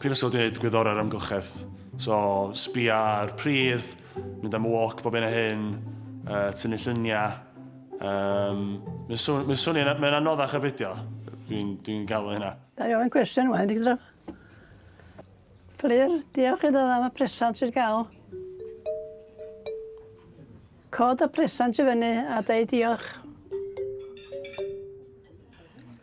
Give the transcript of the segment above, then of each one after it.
Prifysgol wedi gwneud gwyddorau'r amgylchedd. So, sbia ar pridd, mynd am walk bob hyn a hyn, uh, tynnu lluniau. Um, mae'n swn, mae swnio, mae'n anoddach ar beidio. Dwi'n dwi gael hynna. Da i ofyn cwestiwn yma, ydy gyda... Fflir, diolch iddo am y presant sydd gael. Cod y presant i fyny a dweud diolch.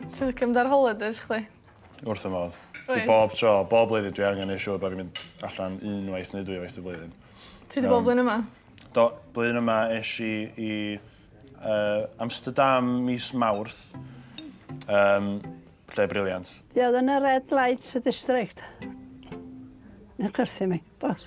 Ti'n licio mynd ar holidays chdi? Wrth y modd. Dwi bob tro, bob blwyddyn dwi angen ei siŵr bod fi'n mynd allan unwaith neu dwy waith y blwyddyn. Ti wedi bod blwyddyn yma? Do, blwyddyn yma eis i i uh, Amsterdam mis Mawrth. Um, lle briliant. Ia, oedd yn y red light district. Yn cyrthu mi, bos.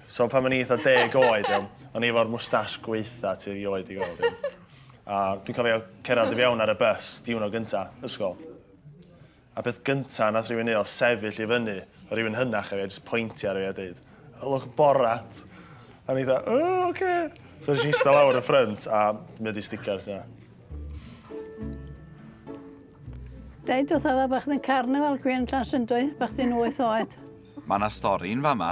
So pan o'n i eitha deg oed, iawn, o'n i efo'r mwstash gweitha ti erioed i gweld. Iawn. A dwi'n cofio cerdded i fewn ar y bus, diwrnod gynta, ysgol. A beth gynta nath rhywun ei oedd sefyll i fyny, o rhywun hynach efe, jyst pointi ar efe a dweud, ylwch borat. A ni dda, o, oce. Okay. So nes i eistedd lawr y ffrynt a mi wedi sticker sy'n Dau dod oedd bach yn carnifal gwi'n tras yn dweud, bach ti'n wyth oed. Mae yna stori'n fama.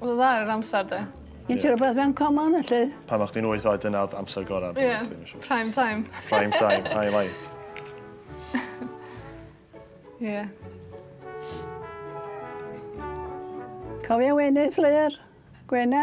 Wel dda ar yr amser de. Gen ti rhywbeth mewn common felly? Pan o'ch ti'n wyth oed dyna oedd amser gorau. Ie, yeah, prime time. Prime time, highlight. Ie. yeah. Cofio weini fflir? Gwena?